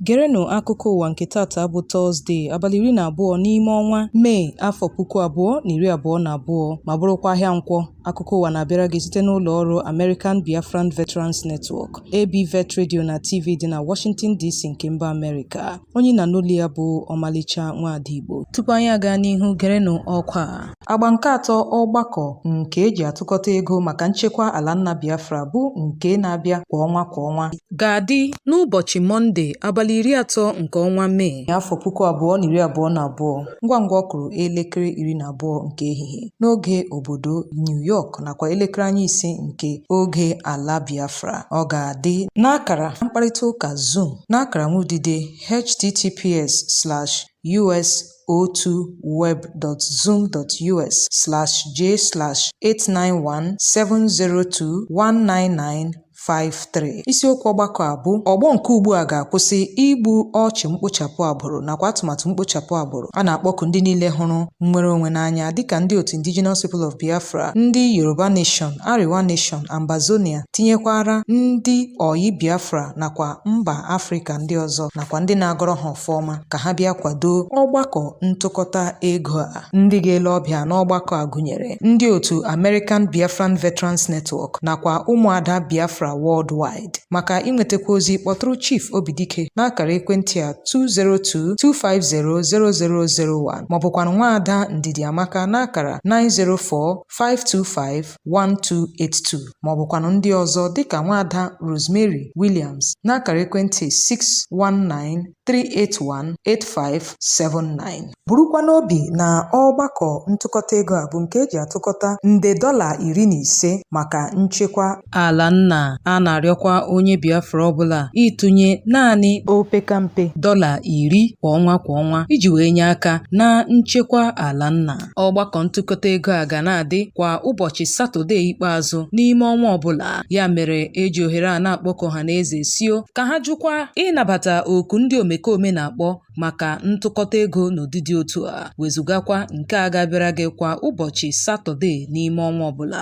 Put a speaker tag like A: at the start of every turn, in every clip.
A: Gerenụ akụkọ ụwa nke taata bụ Tọzdee, abalị iri na abụọ n'ime ọnwa Mee, afọ puku abụọ na iri abụọ na abụọ ma bụrụkwa ahịa Nkwọ. Akụkọ ụwa na-abịara gị site n'ụlọ ọrụ American Biafran Veterans Network, ABVET Radio na TV dị na Washington DC nke mba Amerịka. Onye ị na-anụ olu ya bụ Ọmalịcha Nwaada Igbo. Tupu anyị aga n'ihu gerenụ ọkwa a. Agba nke atọ ọgbakọ nke eji atụkọta ego maka nchekwa ala nna Biafra bụ nke na-abịa kwa ọnwa kwa ọnwa ga-adị n'ụbọchị Mọnde abalị iri atọ nke ọnwa Mee. afọ puku abụọ na iri abụọ na abụọ ngwa ngwa ọ kụrụ elekere iri na abụọ nke ehihie. n'oge obodo New York nakwa elekere anya ise nke oge ala Biafra ọ ga-adị n'akara mkparịta ụka Zoom n'akara nwudide https slash us02web.zoom.us slash j slash 891 702 199 53 isiokwu ọgbakọ a bụ ọgbọ nke ugbu a ga-akwụsị igbu ọchụ mkpochapụ agbụrụ nakwa atụmatụ mkpochapụ agbụrụ a na-akpọku ndị niile hụrụ nnwere onwe n'anya dịka ndị otu Indigenous People of Biafra ndị Yoruba Nation Arewa Nation Ambazonia tinyekwara ndị ọyị Biafra nakwa mba Afrịka ndị ọzọ nakwa ndị na-agọrọ ha ọfọ ọma ka ha bịa kwado ọgbakọ ntụkọta ego a Ndị ga-ele ọbịa n'ọgbakọ a gụnyere ndị otu American Biafran Veterans Network nakwa ụmụada Biafra Worldwide. Maka inwetakwa ozi kpọtụrụ Chief Obidike n'akara ekwentị a 202-250-0001 maọbụkwanụ nwaada Ndidi Amaka n'akara 904-525-1282 maọbụkwanụ ndị ọzọ dịka nwaada Rosemary Williams n'akara ekwentị 619 3818579 burukwa n'obi na ọgbakọ ntụkọta ego a bụ nke eji atụkọta nde dọla iri na ise maka nchekwa ala nna a na-arịọkwa onye Biafra ọbụla ịtụnye naanị opekampe dọla iri kwa ọnwa kwa ọnwa iji wee nye aka na nchekwa ala nna Ọgbakọ ntụkọta ego a ga na-adị kwa ụbọchị Satọde ikpeazụ n'ime ọnwa ọbụla. Ya mere eji ohere a na-akpọku ọhaneze sio ka ha jụkwa ịnabata oku ndị omekome na-akpọ maka ntụkọta ego n'ụdị dị otu a, wezugakwa nke a ga-abịara gị kwa ụbọchị Satọde n'ime ọnwa ọbụla.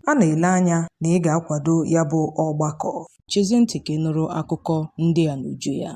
A: A na-ele anya na ị ga-akwado ya bụ ọgbakọ. Chezie ntị ka ị nụrụ akụkọ ndị a n'uju ya.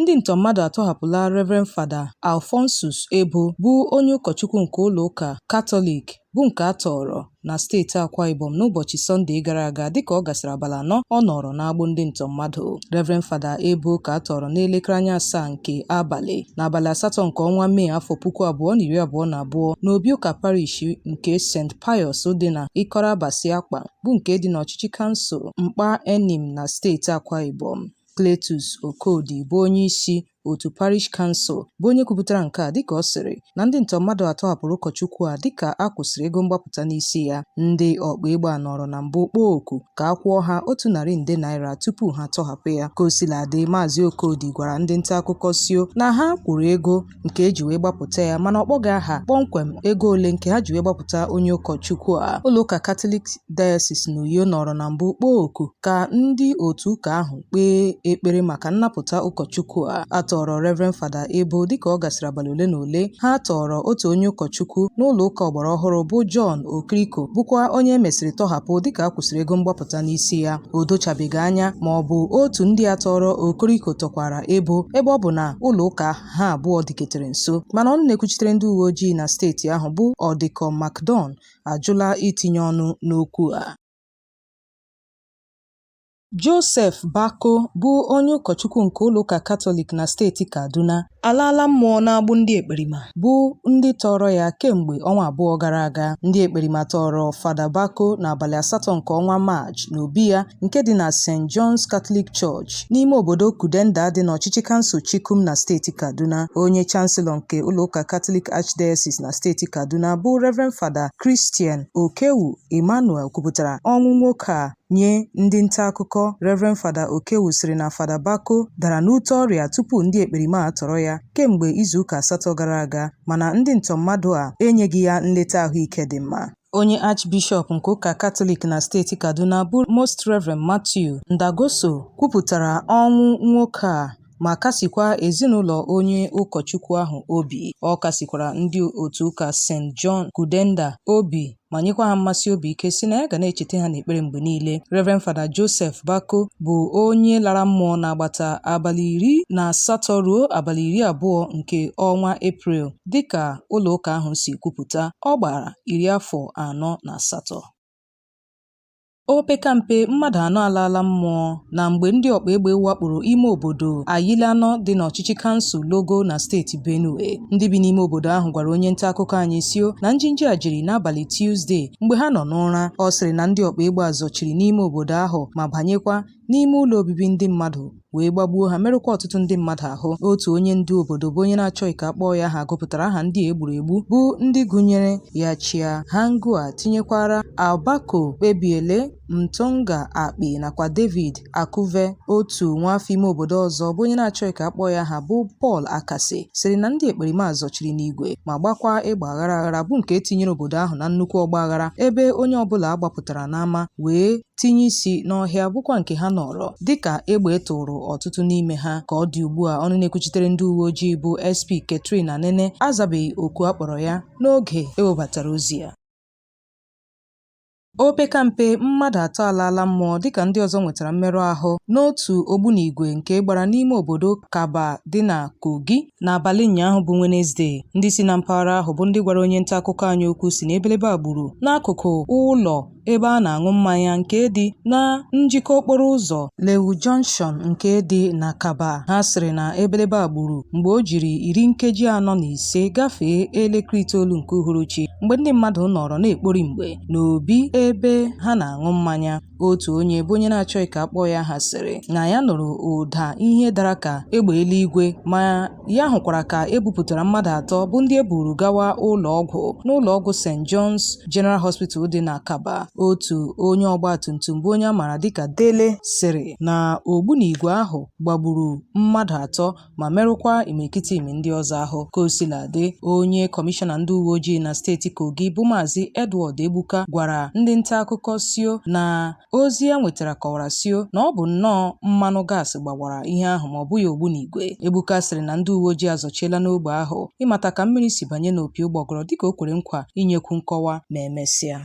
A: Ndị ntọ mmadụ atọhapụla Rev. Fada Alphonsus Ebo bụ onye ụkọchukwu nke ụlọ ụka Katọlik bụ nke a tọọrọ na steeti Akwa Ibom n'ụbọchị Sọnde gara aga dịka ọ gasịrị abalị anọ ọ nọrọ n'agbụ ndị ntọ mmadụ. Rev. Fada Ebo ka a tọọrọ n'elekere anya asaa nke abalị n'abalị asatọ nke ọnwa Mee afọ puku abụọ na iri abụọ na abụọ n'obi ụka parish nke St. Pius dị na Ikot Abasi Akpan bụ nke dị n'ọchịchị kansụl Mkpat Enin na steeti Akwa Ibom. Cletus Okodi bụ onye isi otu Parish Council bụ onye kwupụtara nke a dịka ọ sịrị na ndị ntọ mmadụ a tọhapụrụ ụkọchukwu a dịka a kwụsịrị ego mgbapụta n'isi ya ndị ọkpa egbe a nọrọ na mbụ kpọọ oku ka a kwụọ ha otu narị nde naira tupu ha atọhapụ ya ka o sila dị maazị Okodi gwara ndị nta akụkọ sio na ha kwụrụ ego nke e ji wee gbapụta ya mana ọ kpọghị aha kpọmkwem ego ole nke ha ji wee gbapụta onye ụkọchukwu a ụlọụka Katọlik Diocese n'Uyo nọrọ na mbụ kpọọ oku ka ndị otu ụka ahụ kpee ekpere maka nnapụta ụkọchukwu a a tọọrọ Reverend Fada Ebo dịka ọ gasịrị abalị ole na ole ha tọọrọ otu onye ụkọchukwu n'ụlọ ụka ọgbara ọhụrụ bụ John Okriko bụkwa onye e mesịrị tọhapụ dịka a kwụsịrị ego mgbapụta n'isi ya o dochabeghị anya ma ọ bụ otu ndị a tọọrọ Okriko tọkwara Ebo ebe ọ bụ na ụlọ ụka ahụ ha abụọ dịketere nso mana ọnụ na-ekwuchitere ndị uwe ojii na steeti ahụ bụ Ọdịkọ Macdon ajụla itinye ọnụ n'okwu a Joseph Bako bụ onye ụkọchukwu nke ụlọụka Katọlik na steeti Kaduna alaala mmụọ n'agbụ ndị ekperima bụ ndị tọọrọ ya kemgbe ọnwa abụọ gara aga. Ndị ekperima tọọrọ Fada Bako n'abalị asatọ nke ọnwa Maachị n'obi ya nke dị na St. John's Catholic Church Church n'ime obodo Kudenda dị n'ọchịchị kansụl Chikum na steeti Kaduna. Onye Chancellor nke ụlọụka Catholic Archdiocese na steeti Kaduna bụ Reverend Fada Christian Okewu Emmanuel kwupụtara ọnwụ nwoke a nye ndị nta akụkọ. Reverend Fada Okewu sịrị na Fada Bako dara n'ute ọrịa tupu ndị ekperima atọrọ ya kemgbe izuụka asatọ gara aga mana ndị ntọ mmadụ a enyeghị ya nleta ahụike dị mma. Onye Archbishọp nke ụka Katọlik na steeti Kaduna bụ Most Rev. Matthew Ndagoso kwupụtara ọnwụ nwoke a ma kasikwa ezinụlọ onye ụkọchukwu ahụ obi. Ọ kasikwara ndị otu ụka St. John Kudenda obi ma nyekwa ha mmasị obi ike sị na ya ga na-echeta ha n'ekpere mgbe niile. Rev. Fada Joseph Bako bụ onye lara mmụọ n'agbata abalị iri na asatọ ruo abalị iri abụọ nke ọnwa Eprel. Dịka ụlọụka ahụ si kwupụta, ọ gbara iri afọ anọ na asatọ. Opekampe mmadụ anọ alaala mmụọ na mgbe ndị ọkpa egbe wakporo ime obodo Ayilamo dị n'ọchịchị kansụl Logo na steeti Benue. Ndị bi n'ime obodo ahụ gwara onye nta akụkọ anyị sio na njinji a jiri n'abalị Tuzdee mgbe ha nọ n'ụra. Ọ sịrị na ndị ọkpa egbe a zọchiri n'ime obodo ahụ ma banyekwa n'ime ụlọ obibi ndị mmadụ wee gbagbuo ha merụkwa ọtụtụ ndị mmadụ ahụ otu onye ndu obodo bụ onye na-achọghị ka a kpọọ ya aha gụpụtara aha ndị e gburu egbu bụ ndị gụnyere ya chia hangua tinyekwara abako kpebiele mtonga akpi nakwa david akuve otu nwaafọ ime obodo ọzọ bụ onye na-achọghị ka a kpọọ ya aha bụ paul akase sịrị na ndị ekperima zọchiri n'igwe ma gbakwa egbe aghara aghara bụ nke tinyere obodo ahụ na nnukwu ọgba aghara ebe onye ọbụla gbapụtara n'ama wee tinye isi n'ọhịa bụkwa nke ha nọrọ dịka egbe tụrụ ọtụtụ n'ime ha ka ọ dị ugbu a ọnụ na-ekwuchitere ndị uwe ojii bụ SP Catherine Anene azabeghị oku a kpọrọ ya n'oge e webatara ozi a Opekampe mmadụ atọ alaala mmụọ dịka ndị ọzọ nwetara mmerụ ahụ n'otu ogbunigwe nke gbara n'ime obodo Kabba dị na Kogi n'abalị ụnyaahụ bụ Wenezde. Ndị si na mpaghara ahụ bụ ndị gwara onye nta akụkọ anyị okwu sị na ebelebe a gburu n'akụkụ ụlọ ebe a na-aṅụ mmanya nke dị na njikọ okporo ụzọ Lewu Junction nke dị na Kabba. Ha sịrị na ebelebe a gburu mgbe o jiri iri nkeji anọ na ise gafee elekere itoolu nke uhuruchi mgbe ndị mmadụ nọrọ na-ekpori mgbe n'obi ebe ha na-aṅụ mmanya. Otu onye bụ onye na-achọghị ka a kpọọ ya aha sịrị na ya nụrụ ụda ihe dara ka egbe eluigwe ma ya hụkwara ka e bupụtara mmadụ atọ bụ ndị e buru gawa ụlọ ọgwụ n'ụlọ ọgwụ St. John's General Hospital dị na Kabba otu onye ọgba tum tum bụ onye a maara dịka Dele sịrị na ogbunigwe ahụ gbagburu mmadụ atọ ma merụkwa imirikiti imi ndị ọzọ ahụ ka o sila dị onye kọmishọna ndị uwe ojii na steeti Kogi bụ Maazị Edward Egbuka gwara ndị nta akụkọ sio na Ozi ya nwetara kọwara sio na ọ bụ nnọọ mmanụ gas gbawara ihe ahụ ma ọ bụghị ogbunigwe. Egbuka sịrị na ndị uweojii azọchiela n'ogbe ahụ ịmata ka mmiri si banye n'opi ụgbọgụrụ dịka o kwere nkwa inyekwu nkọwa ma e mesịa.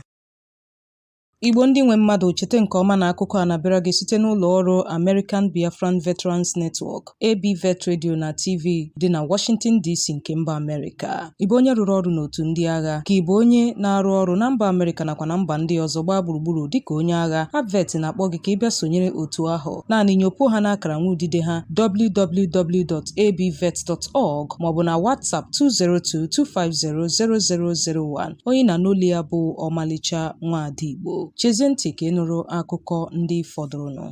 A: Igbo ndị nwe mmadụ cheta nke ọma na akụkọ a na-abịara gị site n'ụlọ ọrụ American Biafran Veterans Network. ABVET Radio na TV dị na Washington DC nke mba Amerịka. Ị bụ onye rụrụ ọrụ n'otu ndị agha? Ka ị bụ onye na-arụ ọrụ na mba Amerịka nakwa na mba ndị ọzọ gbaa gburugburu dịka onye agha, ABVET na-akpọ gị ka ị bịa sonyere otu ahụ. Naanị nyopuo ha n'akara nwa udide ha www.abvet.org maọbụ na WhatsApp 202-250-0001. Onye a na-anụ olu ya bụ Ọmalịcha Nwada Igbo. Chezie ntị ka ị nụrụ akụkọ ndị fọdụrụnụ.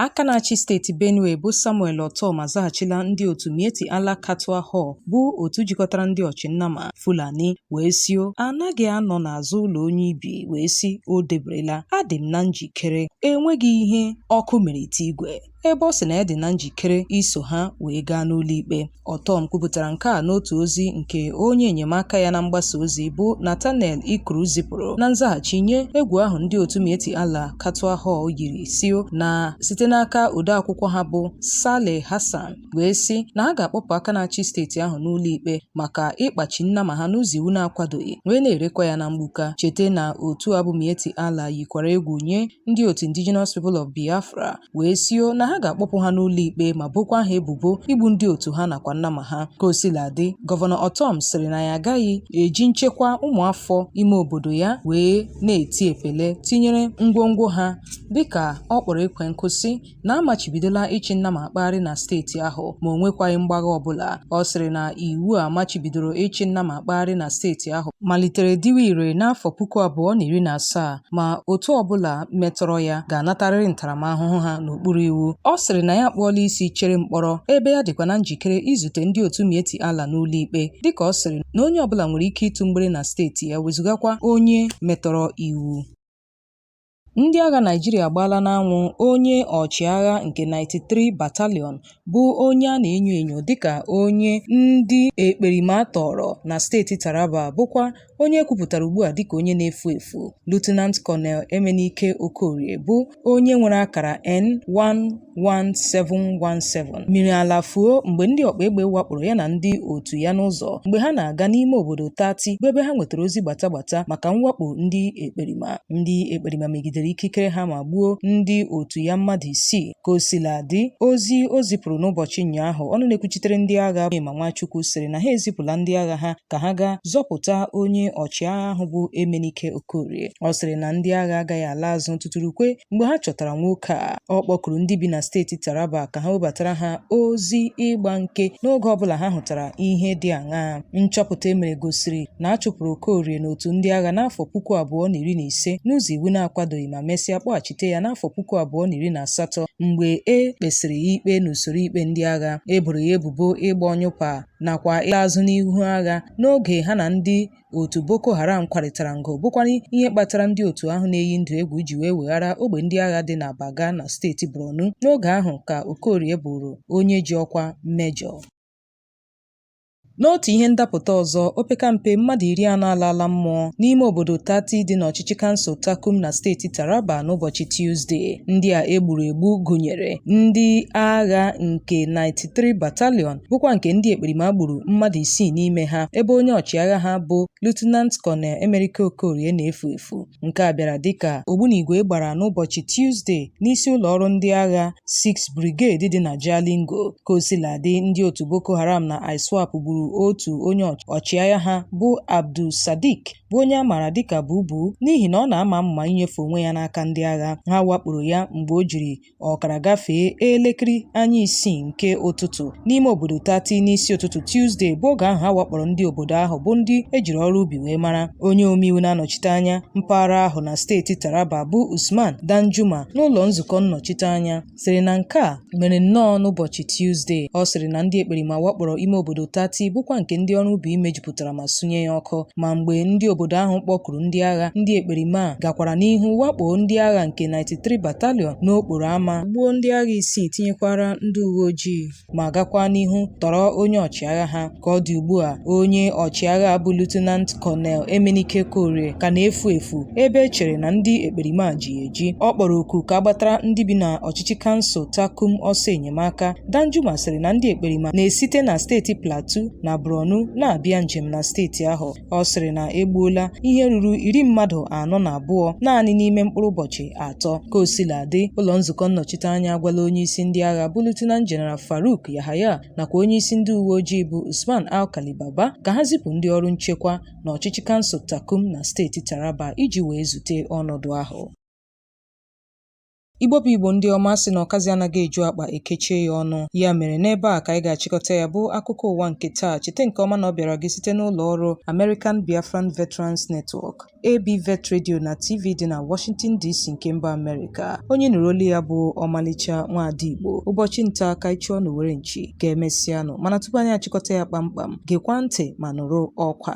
A: Aka na-achị steeti Benue bụ Samuel Ortom azaghachila ndị otu Miyetti Allah Kautal Hore bụ otu jikọtara ndị ọchị nnama Fulani wee sio a naghị anọ n'azụ ụlọ onye ibi wee sị o deberela adị m na njikere enweghị ihe ọkụ mere ite igwe ebe ọ sị na ya dị na njikere iso ha wee gaa n'ụlọikpe Ortom kwupụtara nke a n'otu ozi nke onye enyemaka ya na mgbasa ozi bụ Nathaniel Ikyur zipụrụ na nzaghachi nye egwu ahụ ndị otu Miyetti Allah Kautal Hore yiri sio na site n'aka odeakwụkwọ ha bụ Saleh Hassan wee sị na ha ga-akpọpụ aka na-achị steeti ahụ n'ụlọ ikpe maka ịkpachi nnama ha n'ụzọ iwu na-akwadoghị wee na-erekwa ya na mgbuka cheta na otu a bụ Miyetti Allah yikwara egwu nye ndị otu Indigenous People of Biafra wee sio na ha ga-akpọpụ ha n'ụlọ ikpe ma bokwa ha ebubo igbu ndị otu ha nakwa nnama ha ka o sila dị gọvanọ Ortom sịrị na ya agaghị eji nchekwa ụmụafọ ime obodo ya wee na-eti epele tinyere ngwongwo ha dịka ọ kpọrọ ekwe nkụ sị na a machibidola ịchị nnama akpagharị na steeti ahụ ma o nwekwaghị mgbagha ọbụla ọ sịrị na iwu a machibidoro ịchị nnama akpagharị na steeti ahụ malitere dịwa ire n'afọ puku abụọ na iri na asaa ma otu ọbụla metọrọ ya ga-anatarịrị ntaramahụhụ ha n'okpuru iwu ọ sịrị na ya akpụọla isi chere mkpọrọ ebe ya dịkwa na njikere izute ndị otu Miyetti Allah n'ụlọ ikpe dịka ọ sịrị na onye ọbụla nwere ike ịtụ mgbere na steeti ya wezụgakwa onye metọrọ iwu Ndị agha Naịjirịa agbaala n'anwụ onye ọchịagha nke 93 Battalion bụ onye a na-enyo enyo dịka onye ndị ekperima tọọrọ na steeti Taraba bụkwa onye e kwupụtara ugbu a dịka onye na-efu efu Lieutenant Colonel Emenike Okorie bụ onye nwere akara N11717 miri ala fuo mgbe ndị ọkpa egbe wakporo ya na ndị otu ya n'ụzọ mgbe ha na-aga n'ime obodo Tati bụ ebe ha nwetara ozi gbata gbata maka mwakpo ndị ekperima ndị ekperima megidere ikikere ha ma gbuo ndị otu ya mmadụ isii Ka o sila dị, ozi o zipụrụ n'ụbọchị ụnyaahụ, ọnụ na-ekwuchitere ndị agha bụ Onyema Nwachukwu sịrị na ha ezipụla ndị agha ha ka ha gaa zọpụta onye ọchịagha ahụ bụ Emenike Okorie. Ọ sịrị na ndị agha agaghị ala azụ tutu ruokwa mgbe ha chọtara nwoke a. Ọ kpọkuru ndị bi na steeti Taraba ka ha webatara ha ozi ịgba nke n'oge ọbụla ha hụtara ihe dị aṅaa. Nchọpụta e mere gosiri na a chụpụrụ Okorie n'otu ndị agha n'afọ puku abụọ na iri na ise n'ụzọ iwu na-akwadoghị ma mesịa kpọghachi ghachite ya n'afọ puku abụọ na iri na asatọ mgbe e kpesịrị ya ikpe n'usoro ikpe ndị agha e boro ya ebubo ịgba ọnyụpa nakwa ịla azụ n'ihu agha n'oge ha na ndị otu Boko Haram kwarịtara mgbọ bụkwara ihe kpatara ndị otu ahụ na-eyi ndụ egwu ji wee weghara ogbe ndị agha dị na Baga na steeti Borno n'oge ahụ ka Okorie bụrụ onye ji ọkwa mejọ N'otu ihe ndapụta ọzọ, opekampe mmadụ iri anọ alaala mmụọ n'ime obodo Tati dị n'ọchịchị kansụl Takum na steeti Taraba n'ụbọchị Tuzde. Ndị a e gburu egbu gụnyere ndị agha nke 93 Battalion bụkwa nke ndị ekperima gburu mmadụ isii n'ime ha ebe onye ọchịagha ha bụ Lieutenant Colonel Emenike Okorie na-efu efu. Nke a bịara dịka ogbunigwe gbara n'ụbọchị Tuzde n'isi ụlọ ọrụ ndị agha 6 Brigade dị na Jalingo. Ka o sila dị, ndị otu Boko Haram na ISWAP gburu otu onye ọchịagha ha bụ Abdul Sadiq bụ onye a maara dịka Bubu n'ihi na ọ na-ama amụma inyefe onwe ya n'aka ndị agha. Ha wakporo ya mgbe o jiri ọkara gafee elekere anya isii nke ụtụtụ n'ime obodo tati n'isi ụtụtụ tuzdee bụ oge ahụ a wakporo ndị obodo ahụ bụ ndị e jiri ọrụ ubi wee mara onye omeiwu na-anọchite anya mpaghara ahụ na steeti taraba bụ usman danjuma n'ụlọ nzukọ nnọchite anya sịrị na nke a mere nnọọ n'ụbọchị tuzdee ọ sịrị na ndị ekperima wakporo ime obodo tati bụkwa nke ndị ọrụ ubi mejupụtara ma sunye ya ọkụ ma mgbe ndị obodo ahụ kpọkuru ndị agha ndị ekperima a gakwara n'ihu wakpo ndị agha nke 93 Battalion n'okporo ama gbuo ndị agha isii tinyekwara ndị uwe ojii ma gakwa n'ihu tọrọ onye ọchịagha ha ka ọ dị ugbu a onye ọchịagha bụ Lieutenant Colonel Emenike Korie ka na-efu efu ebe e chere na ndị ekperima a ji ya eji ọ kpọrọ oku ka a gbatara ndị bi na ọchịchị kansụl Takum ọsọ enyemaka Danjuma sịrị na ndị ekperima na-esite na steeti Plateau na Borno na-abịa njem na steeti ahụ. Ọ sịrị na e gbuola ihe ruru iri mmadụ anọ na abụọ naanị n'ime mkpụrụ ụbọchị atọ. Ka o sila dị, ụlọ nzukọ nnọchiteanya agwala onyeisi ndị agha bụ Lieutenant General Farouk Yahaya nakwa onyeisi ndị uwe ojii bụ Usman Alkali Baba ka ha zipụ ndị ọrụ nchekwa na ọchịchị kansụl Takum na steeti Taraba iji wee zute ọnọdụ ahụ. Igbo bụ Igbo ndị ọma a sị na ọkazị anaghị eju akpa e kechie ya ọnụ. Ya mere n'ebe a ka anyị ga-achịkọta ya bụ akụkọ ụwa nke taa. Cheta nke ọma na ọ bịara gị site n'ụlọ ọrụ American Biafran Veterans Network, AB Vet Radio na TV dị na Washington DC nke mba Amerịka. Onye ị nụrụ olu ya bụ ọmalịcha nwaada Igbo. Ụbọchị nta ka anyị chụọ n'owere nchi ka emesịanụ mana tupu anyị achịkọta ya kpamkpam, gekwa ntị ma nụrụ ọkwa.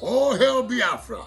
A: All hail Biafra!